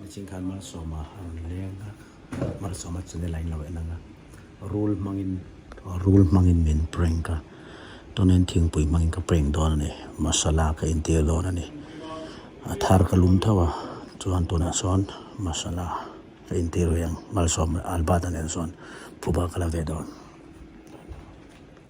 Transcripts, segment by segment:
Niching khan Malsawma an leng a, Malsawma chu nila in lo en ang a, rul hmangin, rul hmangin min prank a, tunin thingpui hmangin ka prank dawn a ni, masala ka intir dawn a ni, a thar ka lum thauh a, chuan tunah sawn masala ka intir ve ang, Malsawma albata nen sawn phuba ka la ve dawn.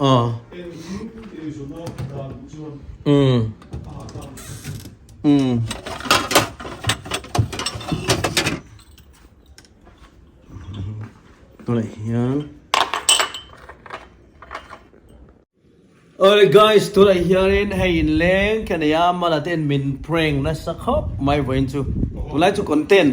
ah mm mm tunah hian Oi guys tunah hianin hei in leng ka nei a mala ten min prank nasa khawp mai vawiin chu tunlai chu content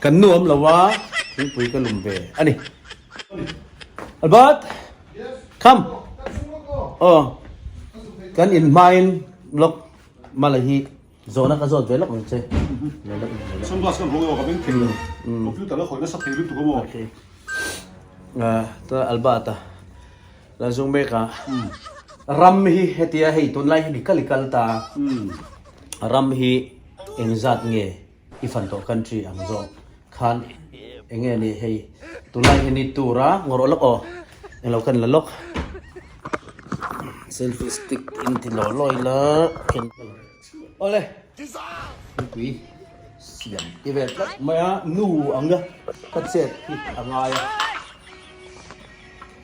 Kan nuam lo a, thingpui ka lum ve a ni. Albert, come. Aw, kan in hmain lawk Malay hi zawhna ka zawt ve lawk ang che. Sunglass kan hawng erawh ka beng thei lo. Computer la khawih nasa thei lutuk emaw? Aa, ta Albert a. Kan zung mek a, ram hi hetia hei tunlai hi mi kal i kal ta a, ram hi eng zat nge i fan tawh country ang zawk khan eng nge ni hei tunlai hi ni tur a ngawrh awh lawk aw eng lo kan la lawk. Selfie stick in ti law law ila ken ka la aw le nupui siam ti ve tlat mai a nu anga ka chet hi a ngai a.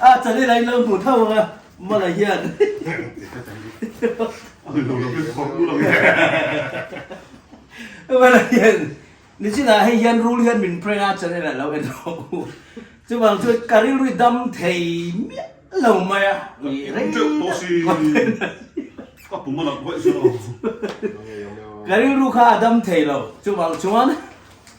A chali la in lo hmu tho ang a mala hian. Mala hian nichinah hei hian rul hian min prank a chali la lo en lo u. Chuvang chu ka rilru dam thei miah lo mai a i reng ka rilru kha a dam thei lo chuvang chuan.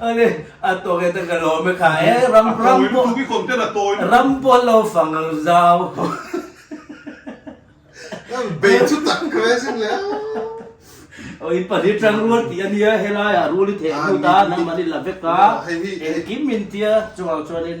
Ani a tawngin a ka lawm e kha e ram ram pawh ram pawh lo fang ang zau. Bei chu tak ka ve sik le a. Aw i pahnih tang rual tih ania helaiah rual i theh hnu ta nangmah i la vek a engkim intia chungah chuanin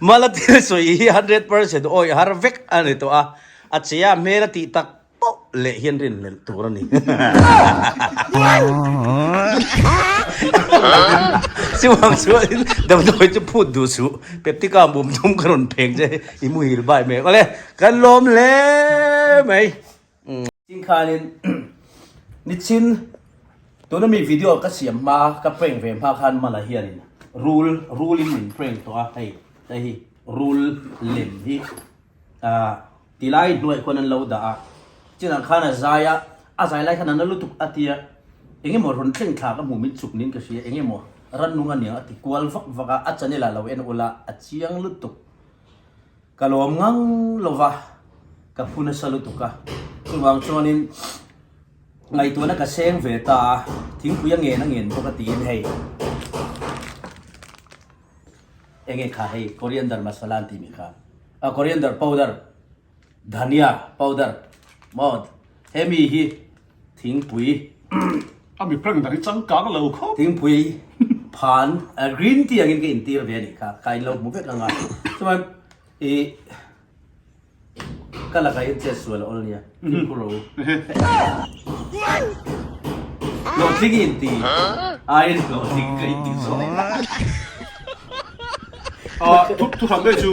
Mala thil sawi hi hundred percent awih har vek a ni tawh a, a che a hmel a tih tak poh leh hian rin melh tur a ni. Siuhang sualin Damdawi chu phut duh suh, Peptica a bum thum ka rawn pheng che, i muhil bai mek awle, kan lawm hle mai. Tin khanin nichin tuna mi video ka siam hma ka prank ve hma khan mala hian in rule rule in min prank to a hei ta hi rule lem hi a tilai hnuai khuan an lo da a chin ang khan a zai a a zai lai khan an lutuk atia enge mo run thleng thla ka mu min chuk nin ka hria enge mo ran nung aniang ati kual vak vak a a chanela lo en ula a chiang lutuk Ka lawm ngang lova ka phu nasa lutuk a, chuvang chuanin ngaihtuahna ka seng ve ta a, thingpui a ngen a ngen bawk a tiin hei enge kha hei coriander masala an tih mai kha a coriander powder, dhania powder maw hemi hi. Thingpui a mi prank dang hi changkang lo khawp. Thingpui phan green tea angin ka intir ve anih kha ka inlo hmu vek anga chuan i ka lakah hian chet sual a awl nia thingpui ro hlawhtling in ti aiin hlawhtling ka inti zawk a. Thuhran te chu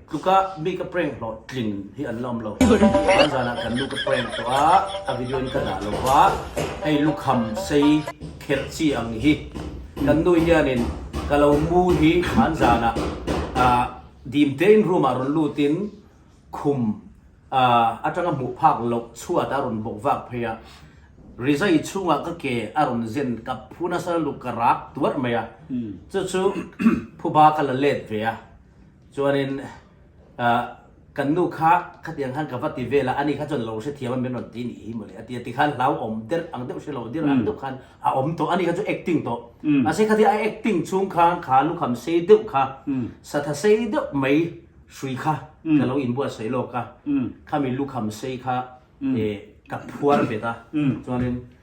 Tuka mi ka prank hlawh tling hi an la awm lo. Van zanah kan nu ka prank tawh a, a video in ka dah lo va, hei lukham sei kher chi ang hi kan nu hianin ka lo mu hi van zanah ah dim te in room ah rawn lut in khum ah atanga hmuh phak loh chhuat a rawn bawk vak phei a, rizai chhungah ka ke a rawn zen kap phu nasa luk ka rak tuarh mai a, chu chu phuba ka la let ve a. Chuanin ah kan nu kha khatiang khan ka va ti vel a, ani kha chuan lo hrethiam a min rawn ti nih hi mawle a ti a, tikhan hlau awm der ang deuh hrelo dir ang deuh khan a awm tawh, ani kha chu acting tawh mahse khatia a acting chhung khan kha lukham sei deuh kha satha sei deuh mai hrui kha ka lo inbuat sawi lawk a, khami lukham sei kha eh ka phuar bet a chuanin.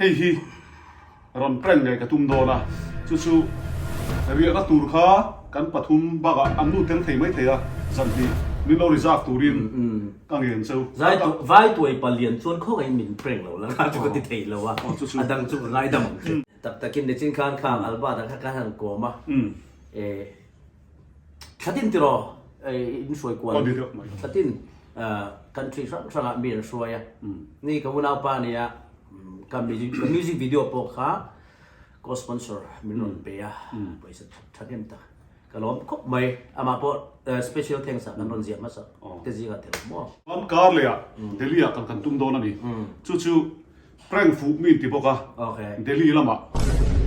Hei hi rawn prank nge ka tum dawn a, chu chu riahna tur kha kan pathum bakah an nu teng thei mai thei a, zanhnih min lo reserve turin ka ngen chu. Vai tuai palian chuan khawngaihin min prank lo langa chu ka ti thei lo a, a dang chu ka ngaidam ang che. Tak takin nichinkhan kha Albert-a kha ka han kawm a, e Thlatin tiraw in hruai kual ni? Thlatin country hrang hrangah mi an hruai a. Ni ka unaupa nia ka music video pawh kha co sponsor min rawn pe a, pawisa tha nghen tak ka lawm khawp mai. Amah pawh special thanks a kan rawn ziah hmasa. Te zinga tel maw? Chuan car leh ah Delhi ah kan kan tum dawn a ni. Chu chu. Prank fuh min ti bawk a, Delhi lama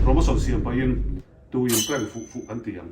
promotion siam pahin tuin prank fuh fuh kan ti ang.